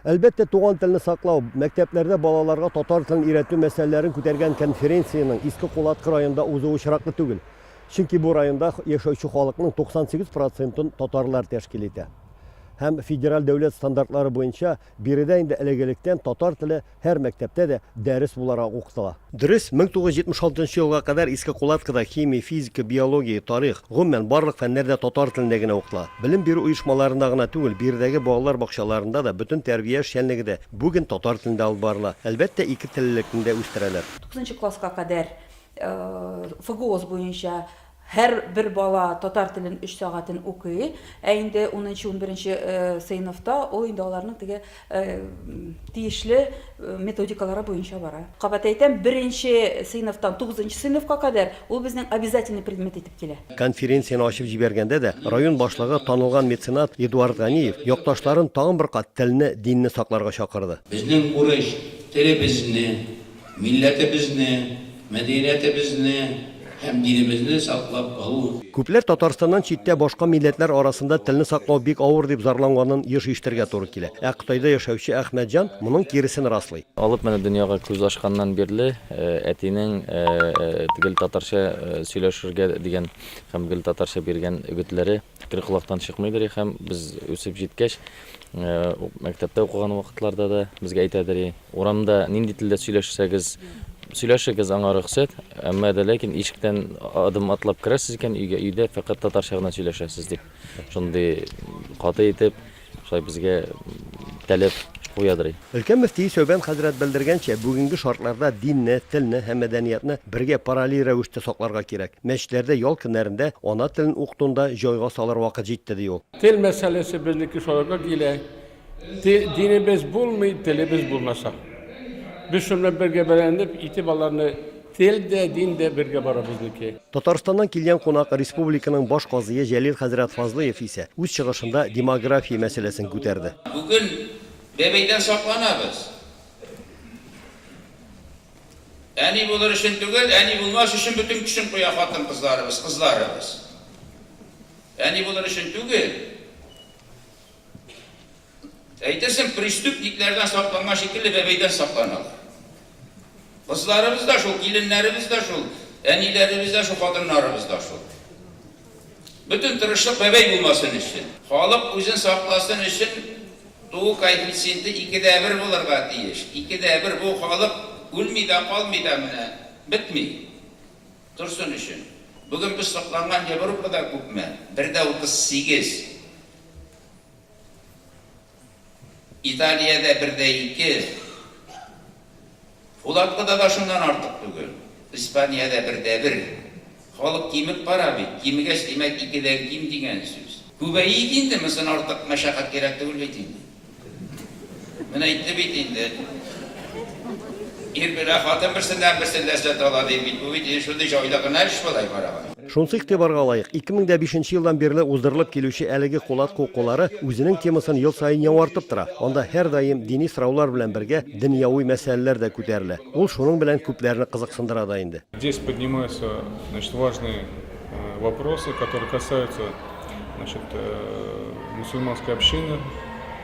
Әлбәттә, туган телне саклау, мәктәпләрдә балаларга татар телен өйрәтү мәсьәләләрен күтәргән конференциянең Иске Кулаткы районында узуы очраклы түгел. Чөнки бу районда яшәүче халыкның 98 процентын татарлар тәшкил итә. Һәм федераль дәүләт стандартлары буенча биредә инде элек-электән татар теле Һәр мәктәптә дә дәрес буларак укытыла. Дөрес, 1976 нчы елга кадәр Иске Кулаткада химия, физика, биология, тарих, гомумән, барлык фәннәр дә татар телендә генә укытыла. Белем бирү оешмаларында гына түгел, биредәге балалар бакчаларында да, бөтен тәрбия эшчәнлеге дә бүген татар телендә алып барыла. Әлбәттә, икетеллелекне дә үстерәләр. Тугызынчы класска кадәр ФГОС буенча Һәр бер бала татар телен өч сәгатен укый, ә инде унынчы-унберенче сыйныфта ул инде аларның теге тиешле методикалары буенча бара. Кабат әйтәм, беренче сыйныфтан тугызынчы сыйныфка кадәр ул безнең обязательный предмет итеп килә. Конференцияне ачып җибәргәндә дә, район башлыгы танылган меценат Эдуард Ганиев якташларын тагын бер кат телне, динне сакларга чакырды. Безнең урыс телебезне. Милләтебезне, мәдәниятебезне һәм динебезне саклап калу. Күпләр Татарстаннан читтә башка милләтләр арасында телне саклау бик авыр дип зарланганын еш ишетергә туры килә. Ә Кытайда яшәүче Әхмәтҗан моның киресен раслый. Алып менә дөньяга күз ачканнан бирле әтинең гел татарча сөйләшергә дигән һәм гел татарча биргән өгетләре Фикер колактан чыкмыйдыр һәм без үсеп җиткәч, мәктәптә укыган вакытларда да безгә әйтәдер, урамда нинди телдә сөйләшсәгез, сөйләшегез аңа рөхсәт, әмма дә ләкин ишектән адым атлап керәсез икән, өйгә өйдә фәкать татарча гына сөйләшәсез дип. Шундый каты итеп Шулай безгә таләп куядыр. Өлкән мөфти Сәүбән хәзрәт белдергәнчә, бүгенге шартларда динне, телне һәм мәдәниятны бергә параллель рәвештә сакларга кирәк. Мәчетләрдә ял көннәрендә ана телен укытуны да җайга салыр вакыт җитте, ди ул. Тел мәсьәләсе безнеке шуларга килә. Динебез булмый, телебез булмаса. Без шуны бергә бәяләнеп, итеп аларны. Тел дә, дин дә бергә бара безнеке. Татарстаннан килгән кунак республиканың баш казые Җәлил хәзрәт Фазлыев исә үз чыгышында демография мәсьәләсен күтәрде. Бүген бәбәйдән сакланабыз. Әни булыр өчен түгел, әни булмас өчен бөтен көчен куя хатын-кызларыбыз, кызларыбыз. Әни булыр өчен түгел. Әйтерсең, преступниклардан сакланган шикелле бәбәйдән сакланалар. Кызларыбыз да шул, киленнәребез дә шул, әниләребез дә шул, хатыннарыбыз да шул. Бөтен тырышлык бәбәй булмасын өчен. Халык үзен сакласын өчен туу коэффициенты ике дә бер булырга тиеш. Ике дә бер, бу халык үлми дә, калмый да менә, бетми. Торсын өчен. Бүген без сокланган Европада күпме? Бер дә утыз сигез. Италиядә бер дә ике, Фулаткыда да шуннан артык түгел. Испаниядә бер дә бер. Халык кимеп бара бит. Кимегәч, димәк, икедән ким дигән сүз. Күбәйик инде, мосын артык мәшәкать кирәк түгел бит инде. Менә әйтте бит инде. Ир белән хатын берсеннән-берсе ләззәт ала, ди бит. Бу бит инде шундый җайлы гына эш болай барабан. Шунсы игътибарга лаек, 2005 нче елдан бирле уздырылып килүче әлеге Кулат кукулары үзенең темасын ел саен яңартып тора. Анда һәрдаим дини сораулар белән бергә дөньяви мәсьәләләр дә күтәрелә. Ул шуның белән күпләрне кызыксындыра да инде. Здесь поднимаются, значит, важные вопросы, которые касаются, значит, мусульманской общины.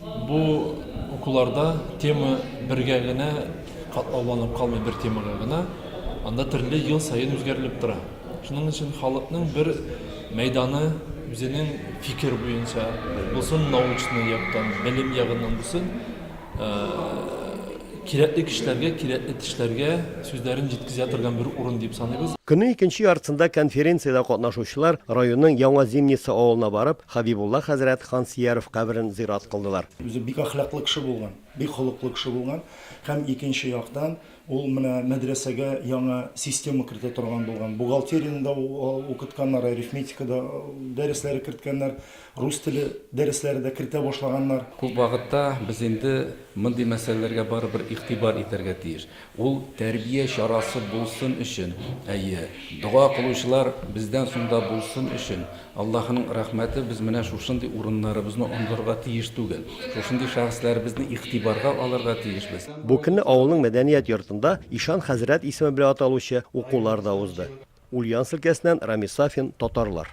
Бу укуларда тема бергә генә катлауланып калмый, бер темага гына, анда төрле ел саен үзгәрелеп тора. Шуның өчен халыкның бер мәйданы үзенең фикер буенча булсын, научный яктан, белем ягыннан булсын, кирәкле кешеләргә, кирәкле тешләргә сүзләрен җиткезә торган бер урын дип саныйбыз. Көннең икенче яртысында конференциядә катнашучылар районның Яңа Зимница авылына барып, Хәбибулла хәзрәт хан Сияров каберен зират кылдылар. Үзе бик әхлаклы кеше булган, бик холыклы кеше булган һәм икенче яктан ул менә мәдрәсәгә яңа система кертә торган булган. Бухгалтерияне дә укытканнар, арифметика да дәресләре керткәннәр, рус теле дәресләре дә кертә башлаганнар. Күп вакытта без инде мондый мәсьәләләргә барыбер игътибар итәргә тиеш. Ул тәрбия чарасы булсын өчен, әйе, дога кылучылар бездән соң да булсын өчен, Аллаһының рәхмәте без менә шушындый урыннарыбызны онытырга тиеш түгел, шушындый шәхесләребезне игътибарга алырга тиешбез. Бу көнне авылның мәдәният йортында Ишан хәзрәт исеме белән аталучы укулар да узды. Ульяновск өлкәсеннән Рамис Сафин, татарлар.